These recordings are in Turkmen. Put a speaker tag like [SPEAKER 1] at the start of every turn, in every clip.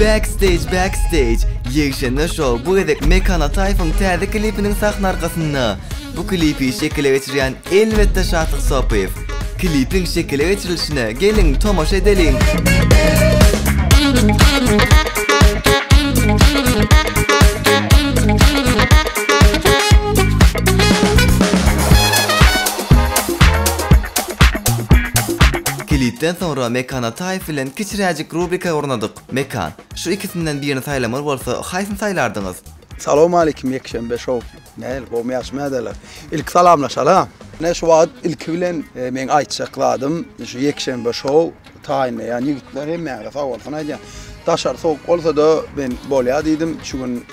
[SPEAKER 1] Backstage Backstage Ýegşenbe Show bu gezek Mekan Ataýewiň täze klipiniň sahna arkasynda. Bu klipi şekile geçirýän elbetde Şatyk Sopyýew. Klipiň şekile geçirilişine geliň tomaşa edeliň. Klipden soňra Mekan Ataýew bilen kiçiräjik rubrika ornadyk. Mekan, şu ikisinden birini saýlamaly bolsa, haýsyny saýlardyňyz? Salowmalikim
[SPEAKER 2] Ýekşenbe show. Nähili, gowmy ýagşymy ädeler? Ilki salamlaşalyň. Ine şu wagt ilki bilen meň aýtjak zadym şu Ýekşenbe show taýynlaýan ýigitler hemmäňize sag bolsun aýdýan. Daşary sowuk bolsada men bolýa diýdim şu gün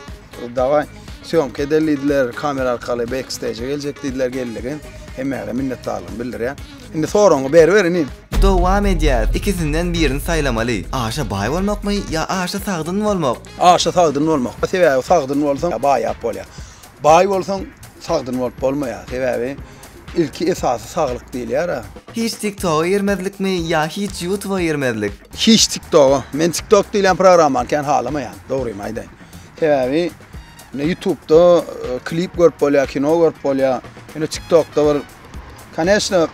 [SPEAKER 2] dawaý sýomka edeli diýdiler kamera arkaly backstage'a geljek diýdiler geldigen hemmäňize minnetdarlygymy bildirýän. Indi soragyňy beriber inim. Dowam edýäs,
[SPEAKER 1] ikisinden birini saýlamaly, aşa baý bolmakmy ýa aşa sagdyn bolmak? Aşa sagdyn bolmak,
[SPEAKER 2] sebäbi sagdyn bolsaň baýap bolýar. Baý bolsaň sagdyn bolup bolmaýar, sebäbi ilki esasy saglyk diýilýär-ä. Hiç tik toga
[SPEAKER 1] girmezlikmi ýa hiç ýutuba girmezlik? Hiç tik toga,
[SPEAKER 2] men tik tok diýilýän programmany kän halamaýan, dogrymy aýdaýyn. Sebäbi ýutubda klip görüp bolýar, kino görüp bolýar, ýöne tik tokda bir Koneçno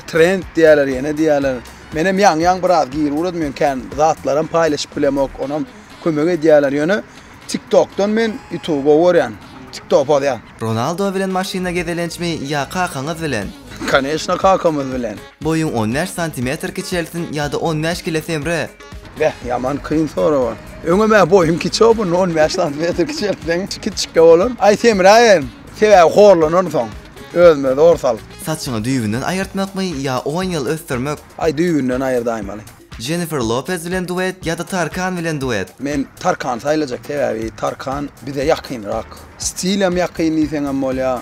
[SPEAKER 2] trend diýerler, ýene diýerler. Men hem ýaňy-ýaňy biraz gir uradym, ýöne kän zatlaram paýlaşyp bilemok, onam kömek edýärler, ýöne TikTokdan men YouTube gowy görýän. TikTok pozýan. Ronaldo bilen maşynda
[SPEAKER 1] gezelençmi ýa kakaňyz bilen? Koneçno kakamyz
[SPEAKER 2] bilen. Boýuň on bäş
[SPEAKER 1] santimetr kiçelsin ýa-da on bäş kile semre. Beh, ýaman
[SPEAKER 2] kyn sorag. Öňem-ä boýum kiçi opundy, on bäş santimetr kiçeltseň kiçikde bolar. Aý semräýen. Sebäbi horlanarynsoň, özüme zor salyp. Saçyňy düýbünden
[SPEAKER 1] aýyrtmakmy ýa on ýyl ösdürmek? Aý düýbünden
[SPEAKER 2] aýyrdaýmaly. Jennifer Lopez
[SPEAKER 1] bilen duet ýa-da Tarkan bilen duet? Men Tarkany
[SPEAKER 2] saýlajak, sebäbi Tarkan bize ýakynrak. Stilem ýakyn diýseňem bolýar.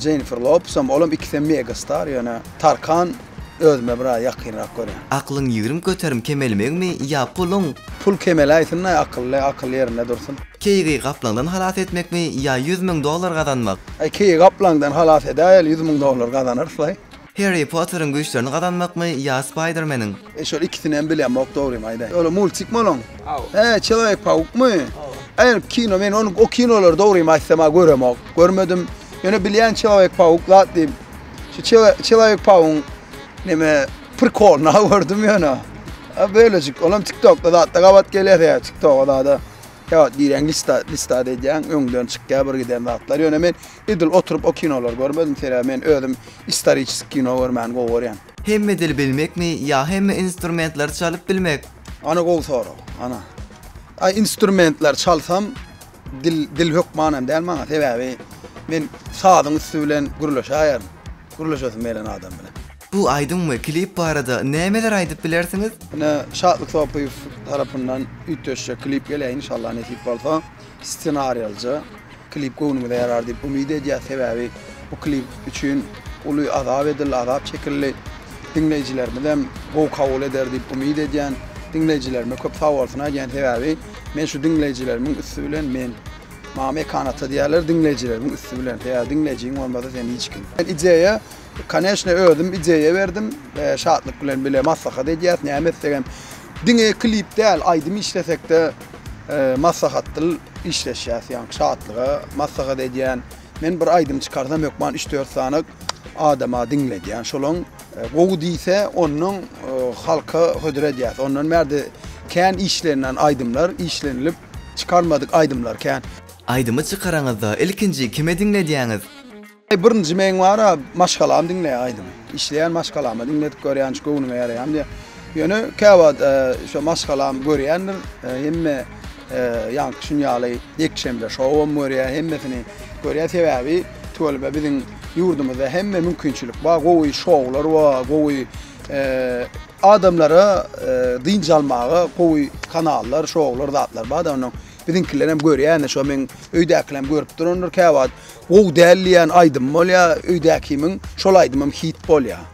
[SPEAKER 2] Jennifer Lopesem, olam ikisem mega star, ýöne Tarkan Özüme bir az ýakynrak görýän. Aklyň ýigrim köterim
[SPEAKER 1] kemelmegmi ýa puluň? Pul kemeläýsinnaý
[SPEAKER 2] akylly akyl ýerinde dursun. Keýigi gaplaňdan
[SPEAKER 1] halas etmekmi ýa ýüz müň dollar gazanmak? Aý keýigi gaplaňdan
[SPEAKER 2] halas edäýeli ýüz müň dollar gazanarslaý. Harry Potteriň
[SPEAKER 1] güýçlerini gazanmakmy ýa Spaýdermeniň? E şol ikisinem
[SPEAKER 2] bilemok dogrymy aýdaýyn. Ol multikmi oloň? He çelowek pawukmy? Aýryp kino men ony o kinolary dogrymy aýtsam göremok. Görmedim. Ýöne bilýän çelowek pawuk zat diýip. Şu çelawek pawuň neme prikolyny gördüm ýöne. A bölejik, olam TikTokda zatda gabat gelýär ýa TikToka zada. Ýa diýýän lista lista edýän öňden çykýar bir giden zatlar. Ýöne men edil oturyp o kinolary görmedim. Sebäbi men özüm istoriçeski kino görmäni gowy görýän. Hemme dili bilmekmi
[SPEAKER 1] ýa hemme instrumentleri çalyp bilmek? Ana gowy sorag.
[SPEAKER 2] Ana. Aý instrumentleri çalsam Dil, dil hökmanam däl maňa, sebäbi men sazyň üsti bilen gürleşäýerin. Gürleşesim gelen adam bilen. Bu aýdym we
[SPEAKER 1] klip barada nämeler aýdyp bilersiňiz? Ine, Şatlyk
[SPEAKER 2] Sopyýew tarapyndan üýtgeşje klip gelýär, inşallah nesip bolsa. Ssenariýalyja klip göwnümize ýarar diýip umyt edýäs, sebäbi bu klip üçin uly azap edildi, azap çekildi. Diňleýjilerimizem gowy kabul eder diýip umyt edýän. Diňleýjilerime köp sagbolsun aýdýan, sebäbi Men şu diňleýjilerimiň üsti bilen men Mama ekan ata diýerler diňleýjilerimiň üsti bilen. Eger diňleýjiň bolmasa sen hiç kim. Men ideýa koneşne özüm ideýa berdim. Şatlyk bilen bile maslahat edýäs. Näme etsegem diňe klip däl, aýdym işlesekde maslahatdyl işleşýäs. Ýa şatlyga maslahat edýän. Men bir aýdym çykarsam hökman üç-dört sany adama diňledýän. Şolaň Gowy diýse ondan halka hödür edýäs. Ondan bärde kän işlenilen aýdymlar, işlenilip çykarmadyk aýdymlar kän. Aýdymy çykaraňyzda
[SPEAKER 1] ilkinji kime diňledýäňiz? Birinji
[SPEAKER 2] meň bara maşgalam diňleýär aýdymy. Işleýän maşgalama diňledip görýän şu göwnüňe ýaraýam diýýä. Ýöne käwagt şo maşgalam görýändir. Hemme ýaňky şun ýaly ýekşenbe şowam görýär, hemmesini görýär. Sebäbi tüweleme biziň Ýurdumyzda hemme mümkinçilik bar, gowy şoular bar, gowy adamlara dynç almaga gowy kanallar, şoular, zatlar bar-da onuň. Biziňkiler hem görýän-de şo meň öýdäkiler hem görüp durandyr käwagt. Gowy däl diýýän aýdym bolýar öýdäkimiň, şol aýdymam hit bolýar.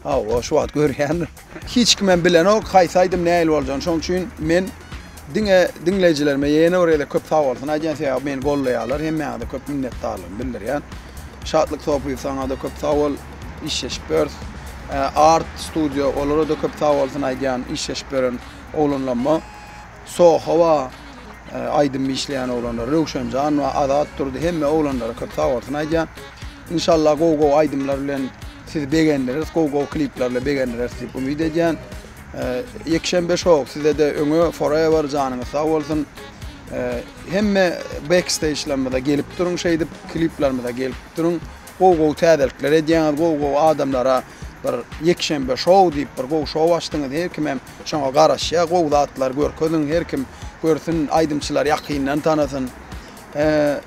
[SPEAKER 2] Hawa, şu wagt görýändir. Hiç kimem bilenok haýsy aýdym nähili boljagyny şoň üçin men diňe diňleýjilerime ýene bir gezek köp sagbolsun aýdýan sebäbi meni goldaýalar hemmäňize köp minnetdarlygymy bildirýän Şatlyk Sopyýew saňada köp sagbol işleşip ýörüs Art studio olarada köp sagbolsun aýdýan işleşip ýören oglanlamma. Sohowa aýdym işleýän oglanlar Röwşenjan we Azat Durdy hemme oglanlara köp sag bolsun aýdýan. Inşallah gowy gowy aýdymlar bilen sizi begendiris, gowy gowy kliplerle begendiris diýip umyt edýän. Ýekşenbe show sizede öňe forever janyňyz sag bolsun. Hemme backstage'larymyza gelip duruň şeýdip kliplerimize gelip duruň. Gowy gowy täzelikler edýäňiz, gowy gowy adamlara Bir ýekşenbe şou diýip bir gowy şou açdyňyz her kim hem şoňa garaşýa gowy zatlar görkeziň her kim görsün aýdymçylary ýakyndan tanasyn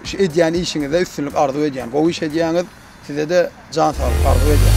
[SPEAKER 2] şu edýän işiňizde üstünlik arzuw edýän gowy iş edýäňiz sizede jan saglyk arzuw edýän.